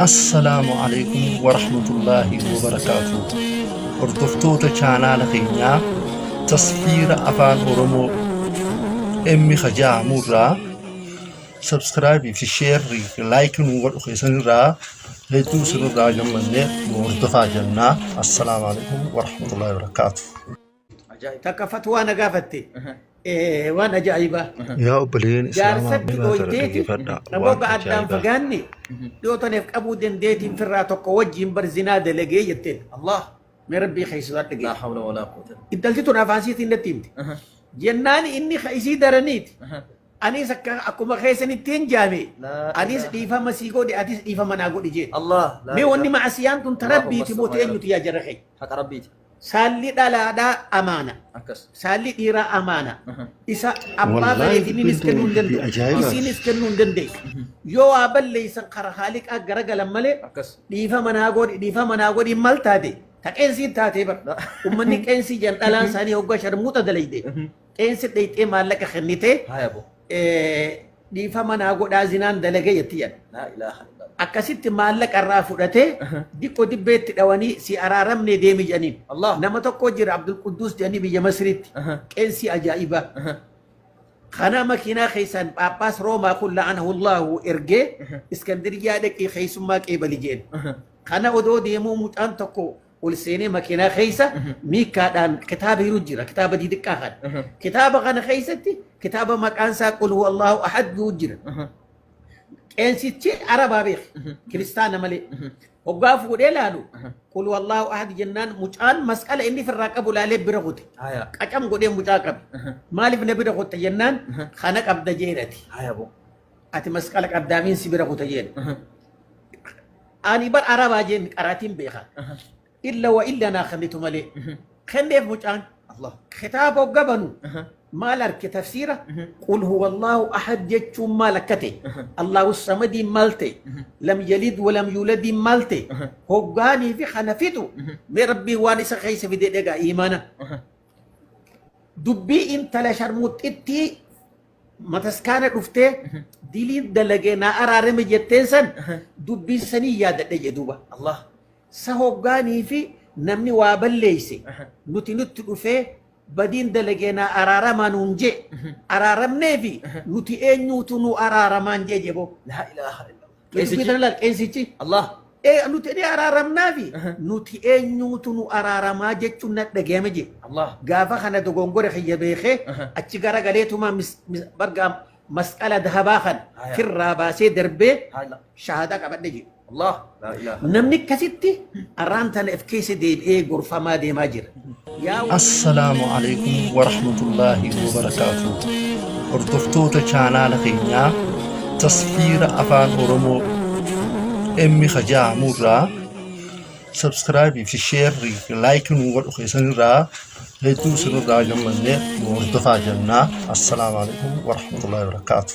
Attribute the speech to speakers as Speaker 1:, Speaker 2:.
Speaker 1: Assalaamu alaikum warahmatullaahi wabarakaatuh. Hordoftoota chaanaala keenyaa tasfiira afaan Oromoo emmi hajaamu irraa sabskraayibii fi sheerrii fi laayikii nu godhu keessan irraa hedduu isin irraa gammannee nu hordofaa jennaa. Assalaamu alaikum warahmatullaahi wabarakaatuh. Ajaa'iba.
Speaker 2: takka fatwaa na gaafatte Aha. Eh, waan ajaa'ibaa Yaa obboleen
Speaker 1: islaamaa jaarsatti miiraa tana dhooyteeti dhaggeeffadha.
Speaker 2: namoota Waan addaan
Speaker 1: ajaa'ibaa.
Speaker 2: fagaanne dhiyootaneef qabuu dandeetiin firraa tokko wajjiin bar zinaa dalagee jetteen allah mee rabbii keessaa Laa dhagee hawla walaa
Speaker 3: quwwata. intalti tun afaan siitiin
Speaker 2: natti himte Aha. jennaan inni ka isii daraniiti Aha. anis akka akkuma keessanitti hin jaame Laa anis ilaaha.
Speaker 3: dhiifama sii
Speaker 2: godhe atis dhiifama naa godhi jeet Allah. laa mee wanni
Speaker 3: ilaaha. ma'asiyaan tun ta
Speaker 2: Allahumma
Speaker 3: rabbiiti
Speaker 2: moo salli ala. teenyuti yaa jara
Speaker 3: keenya
Speaker 2: Haqa rabbiiti.
Speaker 3: Saalli
Speaker 2: dhalaadhaa amaana. Akkas. Saalli
Speaker 3: dhiiraa
Speaker 2: amaana. Aha. Isa abbaa Wallaahi bareediniinis
Speaker 1: dubbiin kennuu hin
Speaker 2: tun dubbii danda'u.
Speaker 1: ajaa'ibaati.
Speaker 2: Isiinis kennuu
Speaker 1: hin
Speaker 2: dandeessu. Yoo waa balleessan karaa haaliqaa garagalan malee Akkas. dhiifama
Speaker 3: naa godhi
Speaker 2: dhiifama naa godhi mal taate ta qeensii taatee bar Na- ummanni qeensii
Speaker 3: jedhan
Speaker 2: dhalaan isaanii hoggaa sharmuuxa dalayde Mhm. qeensi dheyxee maallaqa kennitee Haaya boo. dhiifama naa godhaa zinaan dalagee jetti jedha. Laa ilaaha illallah.
Speaker 3: Akkasitti maallaqa
Speaker 2: irraa fudhatee diqqoo dibbeetti dhawanii si araaramne deemi jedhaniin. Allah. Nama tokko
Speaker 3: jira Abdul
Speaker 2: Quddus jedhanii biyya Masiriitti. Aha. Qeensii ajaa'ibaa. Aha. Kana makiinaa keessaan Phaaphaas Roomaa kun la'anahullahu ergee Iskandiriyaa dhaqii keessummaa qeebali jedheen. Aha. Kana odoo deemuu mucaan tokko ol seenee makiinaa keessa miikkaadhaan kitaaba hiru jira kitaaba didiqqaa kana kitaaba kana keessatti kitaaba maqaan isaa qul huwa allahu ahad jiru jira qeensichi arabaa beek kiristaana malee hoggaa fuudhee laalu qul huwa allahu ahad jennaan mucaan masqala inni firraa qabu laalee bira kute Haya. qacam godhee
Speaker 3: mucaa
Speaker 2: qabe maaliif na bira kutte jennaan kana qabda jeenati Haya boo.
Speaker 3: ati masqala
Speaker 2: qabdaamiin si bira kuta jeen Ani bar arabaa jeen qaraatiin beeka. Illa wa illa naa kennitu malee. Kenneef mucaan Allah. kitaaba
Speaker 3: hogga banu
Speaker 2: Aha. maal arke tafsiira Mhm. qul huwa allaahu ahad jechuun maal akka ta'e Aha. allaahu samadiin maal ta'e Mhm. lam yalid walam yuuladiin maal ta'e Aha. hoggaanii fi kana fidu Mhm. mee rabbiin waan isa keessa fide dhagaa iimana Aha. dubbii intala sharmuuxxittii mataskaana dhuftee diliin dalagee naa araarame jetteen san dubbii sanii yaadadhe jee duuba Allah
Speaker 3: sa hoggaanii
Speaker 2: fi namni waa balleeyse nuti nutti dhufee badiin dalagee naa araaramaa nuun jee araaramnee fi nuti eenyuutu nu araaramaan jee jeboo laa ilaaha illallah
Speaker 3: Qeesichi? Dubbitan laal qeesichi.
Speaker 2: Allah. Ee
Speaker 3: nuti ni
Speaker 2: araaramnaafi Aha. nuti eenyuutu nu araaramaa jechuun na dhagahame jee. Allah. Gaafa kana
Speaker 3: dogongora
Speaker 2: kiyya beekee Aha. achi gara galeetuma mis- mis- barga masqala dahabaa kan Haya. firraa baasee
Speaker 3: darbee
Speaker 2: Haala. shahaadaa
Speaker 3: qabadhe jee.
Speaker 2: Allah. La
Speaker 3: ilaha. Namni akkasitti
Speaker 2: arraan tana if keessa deebi'ee gorfamaa deemaa jira. Assalaamu
Speaker 1: Aleykum Warahmatullaahi Wabarakaatuh Hordoftoota chaanaala keenyaa tasfiira afaan oromoo emmi kajaamu irraa subscribe fi share like nu godhu keessan irraa hedduu isin irraa gammanne nu hordofaa jennaa assalaamu alaikum warahmatullahi wabarakaatu